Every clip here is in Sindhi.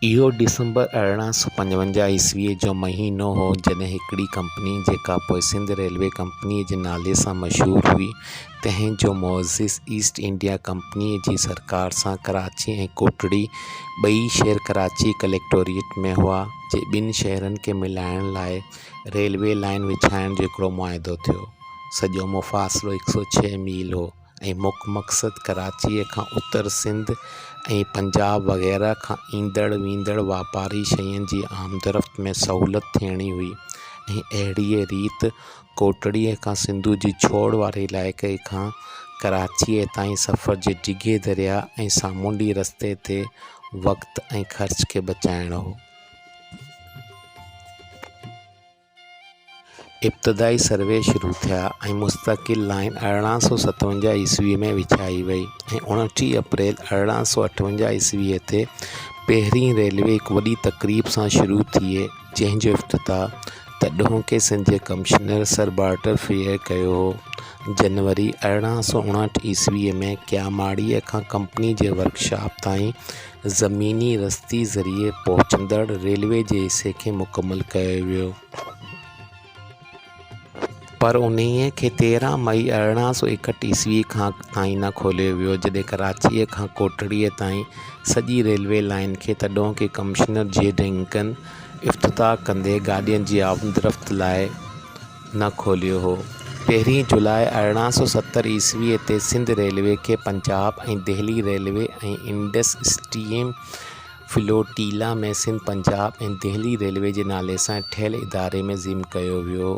اهو ڊسمبر ارڙهن سؤ پنجونجاهه عيسويء جو مهينو هو، جڏهن هڪڙي ڪمپني، جيڪا پوء سنڌ ريلوي ڪمپنيء جي نالي سان مشهور هئي، تنهن جو معزز ايسٽ انڊيا ڪمپنيء جي سرڪار سان ڪراچي ۽ ڪوٽڙي، ٻئي شهر ڪراچي ڪليڪٽوريٽ ۾ هئا، جي ٻن شهرن کي ملائڻ لاء ريلوي لائين وڇائڻ جو هڪڙو معاهدو ٿيو. سڄو مفاصلو هڪ سؤ ڇهه ميل هو. ۽ مک مقصد ڪراچيء کان اتر سنڌ ۽ پنجاب وغيره کان ايندڙ ويندڙ واپاري شين جي آمدرفت ۾ سهولت ٿيڻي هئي ۽ اهڙيء ريت ڪوٽڙيء کان سنڌوء جي ڇوڙ واري علائقي کان ڪراچيء تائين سفر جي ڊگهي درياء ۽ سامونڊي رستي تي وقت ۽ خرچ کي بچائڻو هو ابتدائي سروي شروع ٿيا ۽ مستقل لائين ارڙهن سؤ ستونجاهه عيسوي ۾ وڇائي وئي ۽ اوڻٽيهه اپريل ارڙهن سؤ اٺونجاهه عيسوي تي پهرين ريلوي هڪ وڏي تقريب سان شروع ٿئي جنهن جو افتتاح تڏهوڪي سنڌ جي ڪمشنر سر بارٽر فريئر ڪيو هو جنوري ارڙهن سؤ اڻهٺ عيسوي ۾ ڪياماڙيء کان ڪمپني جي ورڪشاپ تائين زميني رستي ذريعي پهچندڙ ريلوي جي حصي کي مڪمل ڪيو ويو پر انهيء کي تيرهن مئي ارڙهن سو ايڪهٺ عيسوي کان تائين نه کوليو ويو جڏهن ڪراچيء کان ڪوٽڙيء تائين سڄي ريلوي لائين کي تڏهون ڪي ڪمشنر جي ڊنڪن افتتاح ڪندي گاڏين جي آمدرفت لاء نه کوليو هو. پهرين جولاء ارڙهن سؤ ستر عيسويء تي سنڌ ريلوي کي Punjab ۽ Delhi railway ۽ Indus stream flotilla ۾ Sindh, Punjab ۽ Delhi railway جي نالي سان ٺهيل اداري ۾ ضم ڪيو ويو.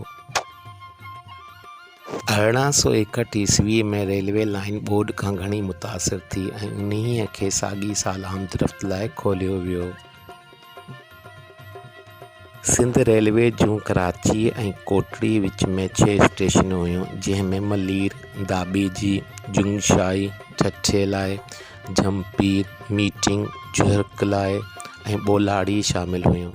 ارڙهن سؤ ايڪهٺ عيسويء ۾ ريلوي لائين ٻوڏ کان گهڻي متاثر ٿي ۽ انهيء کي ساڳئي سال آمدرفت لاء کوليو ويو. سنڌ ريلوي جون ڪراچي ۽ ڪوٽڙي وچ ۾ ڇهه اسٽيشنون هيون جنهن ۾ ملير، داٻي جي، جنگشاهي، ٺٽي لاء، جهمپير، ميٽنگ، جهرڪ لاء ۽ ٻولاڙي شامل هيون.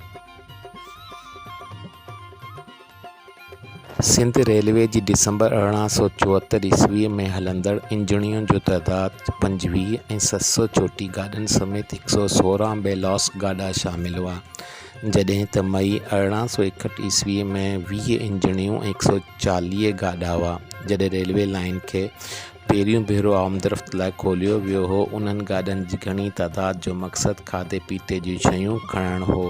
سنڌ ريلوي جي ڊسمبر ارڙهن سؤ چوهتر عيسوي ۾ هلندڙ انجڻين جو تعداد پنجويهه ۽ ست سؤ چوٽيهه گاڏين سميت هڪ سؤ سورهن بي لوث گاڏا شامل هئا جڏهن ته مئي ارڙهن سؤ ايڪهٺ عيسوي ۾ ويهه انجڻيون ۽ هڪ سؤ چاليهه گاڏا هئا جڏهن ريلوي لائين کي پهريون ڀيرو آمدرفت لاء کوليو ويو هو انهن گاڏين جي گهڻي تعداد جو مقصد کاڌي پيتي جون شيون کڻڻ هو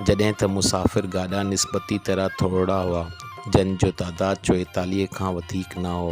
جڏهن ته مسافر گاڏا نسبتي طرح ٿورڙا هئا، جن جو تعداد چوئيتاليهه کان وڌيڪ نه هو.